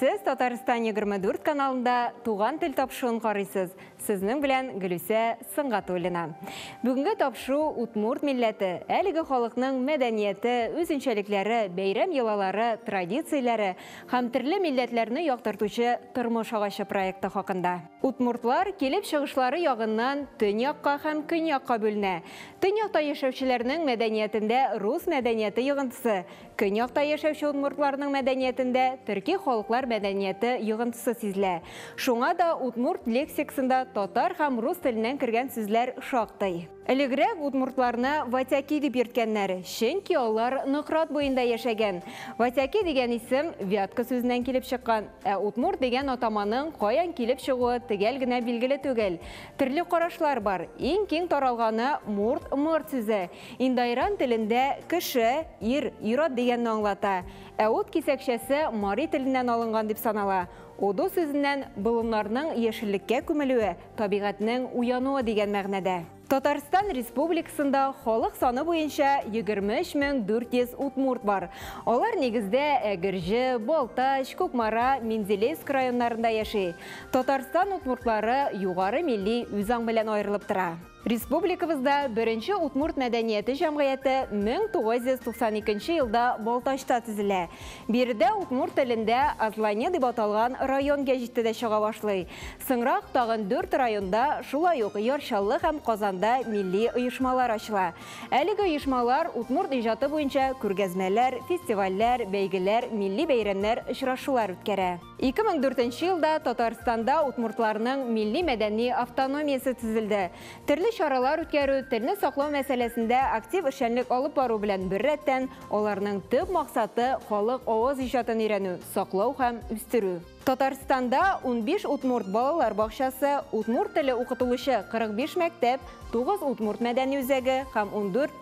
Сез Татарстан егерме дүрт каналында Туган тел тапшыуын карыйсыз. Сезнең белән Гөлүсә Сынгатуллина. Бүгенге тапшыу удмурт милләте, әлеге халыкның мәдәнияте, үзенчәлекләре, бәйрәм йолалары, традицияләре һәм төрле милләтләрне яктыртучы тормыш агачы проекты хакында. Удмуртлар килеп чыгышлары ягыннан төньякка һәм көньякка бүленә. Төньякта яшәүчеләрнең мәдәниятендә рус мәдәнияте йогынтысы, Көньякта яшәүче удмуртларның мәдәниятендә төрки халыклар мәдәнияте йогынтысы сизелә. Шуңа да удмурт лексиксында татар һәм рус теленнән кергән сүзләр шактый. Элегрәк удмуртларны ватяки дип йөрткәннәр, чөнки алар Нократ буенда яшәгән. Ватяки дигән исем вятка сүзеннән килеп чыккан. Ә удмурт дигән атаманың каян килеп чыгуы төгәл генә билгеле түгел. Төрле карашлар бар. Иң киң таралганы мурт, мырт сүзе. Индоиран телендә кеше, ир, ир-ат дигәнне аңлата, ә ут кисәкчәсе мари теленнән алынган дип санала. Уду сүзеннән болыннарның яшеллеккә күмелүе, табигатьнең уянуы дигән мәгънәдә. Татарстан Республикасында халык саны буенча 23 мең 400 удмурт бар. Алар нигездә Әгерҗе, Балтач, Кукмара, Менделеевск районнарында яши. Татарстан удмуртлары югары милли үзаң белән аерылып тора. Республикабызда Беренче удмурт мәдәнияте җәмгыяте 1992 елда Балтачта төзелә. Биредә удмурт телендә Азлане дип аталган район гәҗите дә чыга башлый. Соңрак тагын дүрт районда, шулай ук Яр Чаллы һәм Казанда милли оешмалар ачыла. Әлеге оешмалар удмурт иҗаты буенча күргәзмәләр, фестивальләр, бәйгеләр, милли бәйрәмнәр, очрашулар үткәрә. 2004 елда Татарстанда удмуртларның милли-мәдәни автономиясе төзелде. Төрле чаралар үткәрү, телне саклау мәсьәләсендә актив эшчәнлек алып бару белән беррәттән, аларның төп максаты, халык авыз иҗатын өйрәнү, саклау һәм үстерү. Татарстанда 15 удмурт балалар бакчасы, удмурт теле укытылучы 45 мәктәп, 9 удмурт мәдәни үзәге һәм 14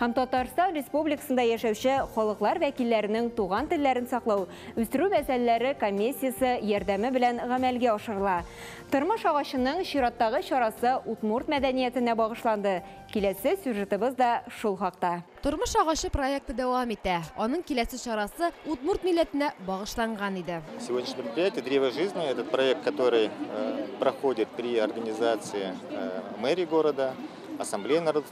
һәм Татарстан Республикасында яшәүче халыклар вәкилләренең туган телләрен саклау, үстерү мәсьәләләре комиссиясе ярдәме белән гамәлгә ашырыла. Тормыш агачының чираттагы чарасы удмурт мәдәниятенә багышланды. Киләсе сюжетыбыз да шул хакта. Тормыш агачы проекты дәвам итә. Аның киләсе чарасы удмурт милләтенә багышланган иде. Сегодняшнее мероприятие Древо жизни это проект, который проходит при организации мэрии города, Ассамблеи народов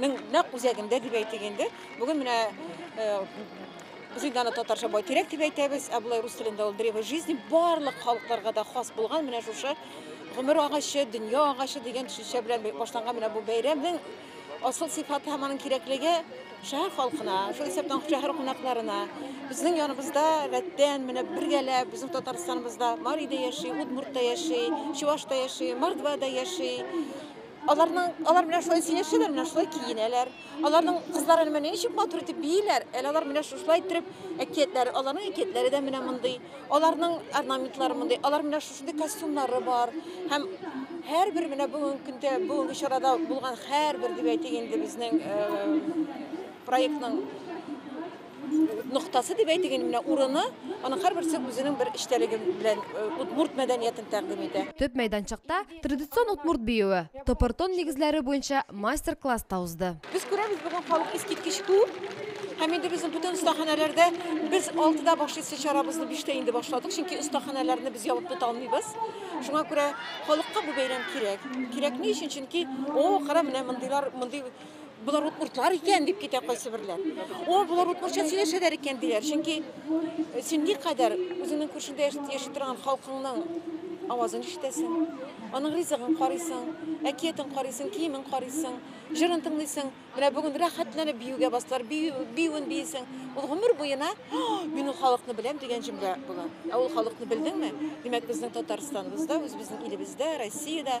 Мин нәкъ үзәгендә дип әйтик инде. Бүген менә Зыйданы татарча байтирәк дип әйтәбез, ә болай рус телендә ул древо жизни барлык халыкларга да хас булган менә шушы гомер агачы, дөнья агачы дигән төшенчә белән башланган менә бу бәйрәмнең асыл сыйфаты һәм аның кирәклеге шәһәр халкына, шул исәптән шәһәр кунакларына, безнең яныбызда рәттән менә бергәләп безнең Татарстаныбызда Марида яши, Удмуртта яши, Чувашта яши, Мордвада яши, Аларның алар менә шулай сөйләшәләр, менә шулай киенәләр. Аларның кызлары менә ничек матур итеп бииләр. Әле алар менә шушылай итеп әкиятләре, аларның әкиятләре дә менә мондый. Аларның орнаментлары мондый. Алар менә шушындый костюмнары бар. Һәм һәрбер менә бүгенге көндә, бүгенге чарада булган һәрбер дип әйтик инде безнең проектның ноктасы дип әйтик инде менә урыны, аның һәрберсе үзенең бер эчтәлеге белән удмурт мәдәниятен тәкъдим итә. Төп мәйданчыкта Традицион удмурт биюе, топортон нигезләре буенча мастер-класс та узды. Без күрәбез, бүген халык искиткеч күп. Һәм инде безнең бүтән остаханәләрдә без 6-да башлыйсы чарабызны 5-тә инде башладык, чөнки остаханәләрне без ябып тота алмыйбыз. Шуңа күрә халыкка бу бәйрәм кирәк. Кирәк ни өчен? Чөнки, о, кара, менә мондыйлар, мондый Болар удмуртлар икән дип китә кайсы берләр. О, болар удмуртча сөйләшәләр икән диләр. Чөнки э, син никадәр үзеңнең күршеңдә яши торган халкыңның авазын ишетәсең, аның ризыгын карыйсың, әкиятен карыйсың, киемен карыйсың, җырын тыңлыйсың. Менә бүген рәхәтләнеп биюгә бастылар, биюен биесең. Ул гомер буена мин ул халыкны беләм дигән җөмлә була. Ә ул халыкны белдеңме? Димәк, безнең Татарстаныбызда, үзебезнең илебездә, Россиядә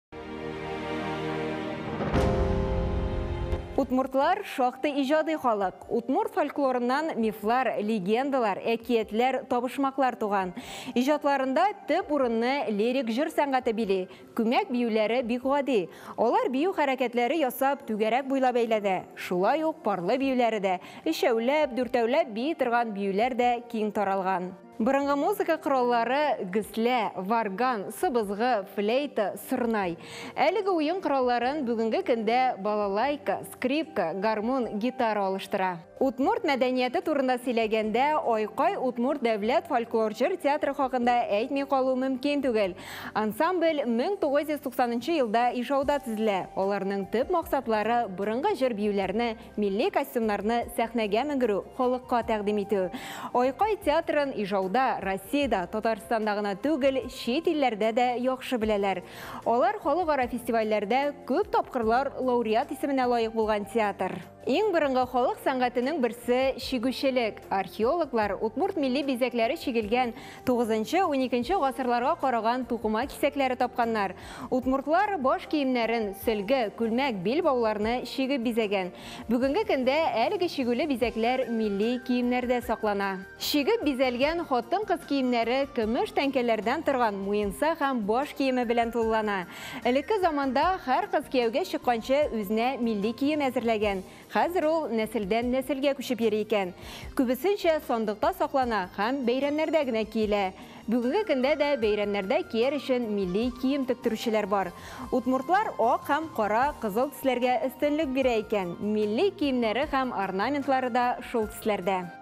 Утмуртлар шактый иҗади халык. Утмур фольклорыннан мифлар, легендалар, әкиятләр, табышмаклар туган. Иҗатларында төп урынны лирик җыр сәнгате били. Күмәк биюләре бик гади. Алар бию хәрәкәтләре ясап, түгәрәк буйлап әйләнә. Шулай ук парлы биюләре дә, өчәүләп, дүртәүләп бии торган биюләр дә киң таралган. Борынгы музыка кораллары геслә, варган, сыбызгы, флейта, сырнай. Әлеге уен коралларын бүгенге көндә балалайка, скрипка, гармун, гитара алыштыра. Удмурт мәдәнияте турында сөйләгәндә, Айкай Удмурт дәүләт фольклор җыр театры хакында әйтми калу мөмкин түгел. Ансамбль 1990 елда Ижауда төзелә. Аларның төп максатлары, борынгы җыр-биюләрне Милли костюмнарны сәхнәгә менгерү, халыкка тәкъдим итү. Айкай театрын Ижауда, Россиядә, Татарстанда гына түгел, чит илләрдә дә яхшы беләләр. Алар халыкара фестивальләрдә күп тапкырлар лауреат исеменә лаек булган театр. Иң борынгы халык сәнгатенең берсе, чигүчелек. Археологлар удмурт милли бизәкләре чигелгән Тугызынчы, уникенче гасырларга караган тукыма кисәкләре тапканнар. Удмуртлар баш киемнәрен, сөлге, күлмәк, билбауларны чигеп бизәгән. Бүгенге көндә әлеге чигүле бизәкләр милли киемнәрдә саклана. Чигеп бизәлгән хатын-кыз киемнәре көмеш тәңкәләрдән торган муенса һәм баш киеме белән тулылана. Элекке заманда һәр кыз кияүгә чыкканчы үзенә милли кием әзерләгән, Хәзер ул нәселдән-нәселгә күчеп йөри икән. Күбесенчә сандыкта саклана һәм бәйрәмнәрдә генә киелә. Бүгенге көндә дә бәйрәмнәрдә кияр өчен милли кием тектерүчеләр бар. Удмуртлар ак һәм кара, кызыл төсләргә өстенлек бирә икән, милли киемнәре һәм орнаментлары да шул төсләрдә.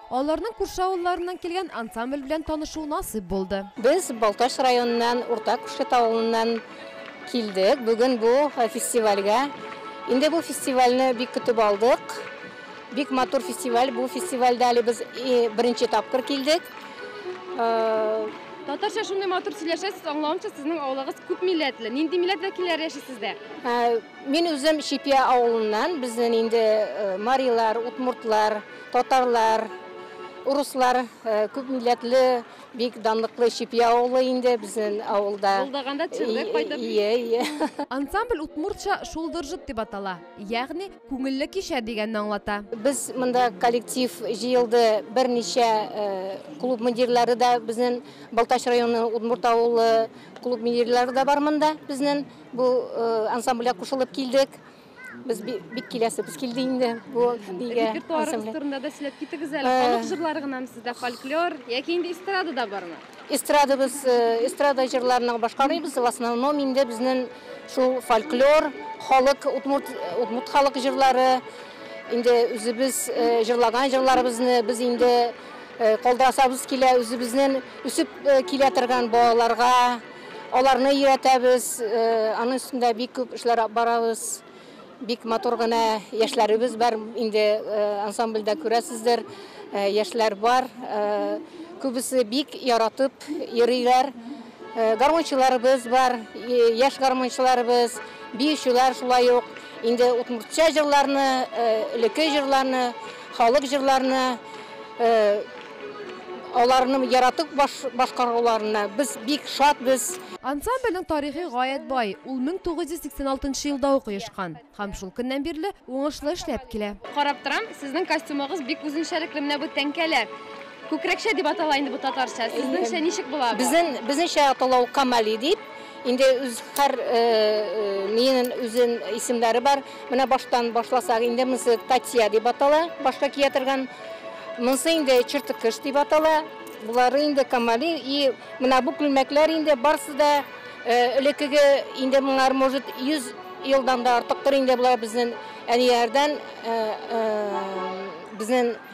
Аларның күрше авылларыннан килгән ансамбль белән танышу насыйп булды. Без Балтач районыннан, Урта Күшкет авылыннан килдек бүген бу фестивальгә. Инде бу фестивальне бик көтеп алдык. Бик матур фестиваль. Бу фестивальдә әле без беренче тапкыр килдек. Татарча шундый матур сөйләшәсез, аңлавымча, сезнең авылыгыз күп милләтле. Нинди милләт вәкилләре яши сездә? Мин үзем Чипья авылыннан, безнен инде марилар, удмуртлар, татарлар, урыслар күп милләтле бик данлыклы Чипья авылы инде безнен авылда. Булдаганда төшердек кайтып. Ие, ие. Ансамбль удмуртча Шулдыржыт дип атала, ягъни Күңелле кичә дигәнне аңлата. Без монда коллектив җыелды, берничә клуб мөдирләре дә безнен Балтач районы Удмурт авылы клуб мөдирләре дә бар монда безнен. Бу э, ансамбльгә кушылып килдек. Без бик киләсебез килде инде бу бигә. Репертуарыгыз турында да сөйләп китегез әле. Э. Халык җырлары гынамы сездә фольклор яки инде эстрада да бармы? Эстрада без э, эстрада җырларны башкарыйбыз. В основном инде безнең шул фольклор, халык удмурт удмурт халык җырлары. Инде үзебез җырлаган җырларыбызны без инде калдырасабыз килә, үзебезнең үсеп килә торган балаларга Аларны өйрәтәбез, аның өстендә бик күп эшләр барабыз. Бик матур гына яшьләребез бар, инде ансамбльдә күрәсездер, яшьләр бар. Күбесе бик яратып йөриләр. Гармунчыларыбыз бар, яшь гармунчыларыбыз, биючеләр шулай ук. Инде удмуртча җырларны, элекке җырларны, халык җырларны. Аларны яратып башкаруларына без бик шатбыз. Ансамбльнең тарихы гаять бай, ул 1986 нчы елда ук оешкан һәм шул көннән бирле уңышлы эшләп килә. Карап торам, сезнең костюмыгыз бик үзенчәлекле, менә бу тәңкәләр, күкрәкчә дип атала инде бу татарча, сезнеңчә ничек була бу? Безнеңчә атала ул камали дип, инде үз һәр миенен үзен исемнәре бар. Менә баштан башласак, инде монысы татья дип атала, башка кия торган. Монысы инде чертыкыш дип атала. Булары инде камали и менә бу күлмәкләр инде барсы да э, элеккеге инде моңар может 100 елдан да артыктыр инде булар безнең әниярдән э, э, безнең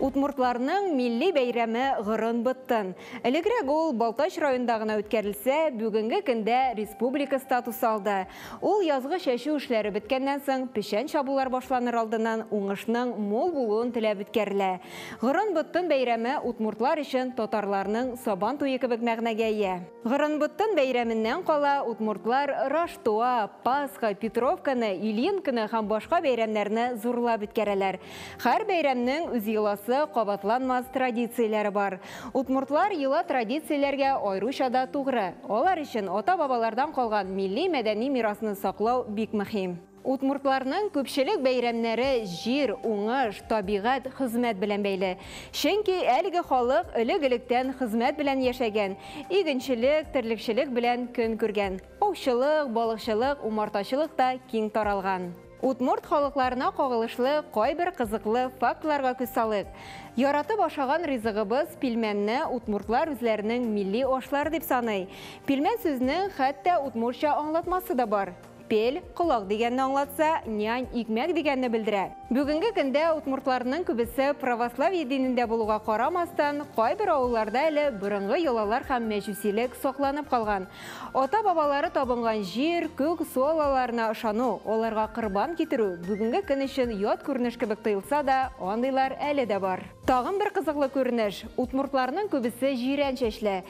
Удмуртларның милли бәйрәме Гырын-быттын. Элегрәк ул Балтач районында гына үткәрелсә, бүгенге көндә республика статусы алды. Ул язгы чәчү эшләре беткәннән соң, печән чабулар башланыр алдыннан уңышның мул булуын теләп үткәрелә. Гырын-быттын бәйрәме удмуртлар өчен татарларның Сабан туе кебек мәгънәгә ия. Гырынбуттан бәйрәменнән кала, удмуртлар Раштуа, Пасха, Петровканы, Ильинканы һәм башка бәйрәмнәрне зурлап үткәрәләр. Хәр бәйрәмнең үз йоласы, кабатланмас традицияләре бар. Удмуртлар йола традицияләргә аеруча да тугры. Алар өчен ата-бабалардан калган милли-мәдәни мирасны саклау бик мөһим. Удмуртларның күпчелек бәйрәмнәре җир, уңыш, табигать, хезмәт белән бәйле. Чөнки әлеге халык элек-электән хезмәт белән яшәгән, игенчелек, терлекчелек белән көн күргән. Аучылык, балыкчылык, умартачылык та киң таралган. Удмурт халыкларына кагылышлы кайбер кызыклы фактларга күз салыйк. Яратып ашаган ризыгыбыз пилмәнне удмуртлар үзләренең милли ашлары дип саный. Пилмән сүзнең хәтта удмуртча аңлатмасы да бар. Пель, колак дигәнне аңлатса, нянь, икмәк дигәнне белдерә. Бүгенге көндә удмуртларның күбесе православие динендә булуга карамастан, кайбер авылларда әле борынгы йолалар һәм мәҗүсилек сакланып калган. Ата-бабалары табынган җир, күк, су аллаларына ышану, аларга корбан китерү бүгенге көн өчен ят күренеш кебек тоелса да, андыйлар әле дә бар. Тагын бер кызыклы күренеш, удмуртларның күбесе җирән чәчле.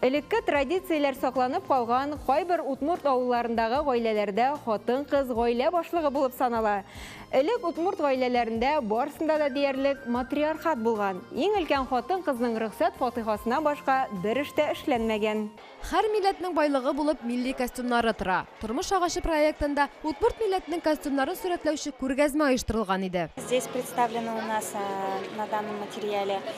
Элекке традицияләр сакланып калган кайбер удмурт авылларындагы гаиләләрдә хатын-кыз гаилә башлыгы булып санала. Элек удмурт гаиләләрендә барысында да диярлек матриархат булган, иң өлкән хатын-кызның рөхсәт фатыйхасына башка бер эш тә эшләнмәгән. Һәр милләтнең байлыгы булып милли костюмнары тора. Тормыш агачы проектында удмурт милләтенең костюмнарын сурәтләүче күргәзмә оештырылган иде. Здесь представлены у нас на данном материале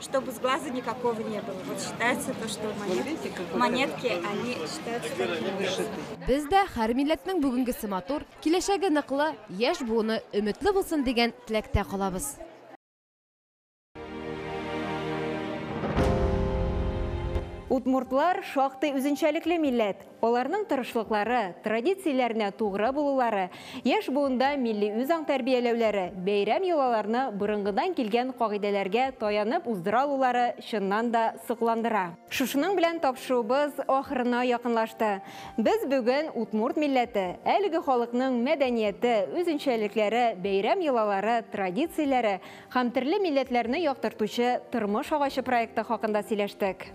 чтобы с глаза никакого не было. Вот считается то, что монетки, монетки они считаются такими. Без дә һәр милләтнең бүгенгесе матур, киләчәге ныклы, яшь буыны өметле булсын дигән теләктә калабыз. Удмуртлар шактый үзенчәлекле милләт. Аларның тырышлыклары, традицияләренә тугры булулары, яшь буында милли үзаң тәрбияләүләре, бәйрәм йолаларны борынгыдан килгән кагыйдәләргә таянып уздыра алулары чыннан да сокландыра. Шушының белән тапшыруыбыз ахырына якынлашты. Без бүген удмурт милләте, әлеге халыкның мәдәнияте, үзенчәлекләре, бәйрәм йолалары, традицияләре һәм төрле милләтләрне яктыртучы тормыш агачы проекты хакында сөйләштек.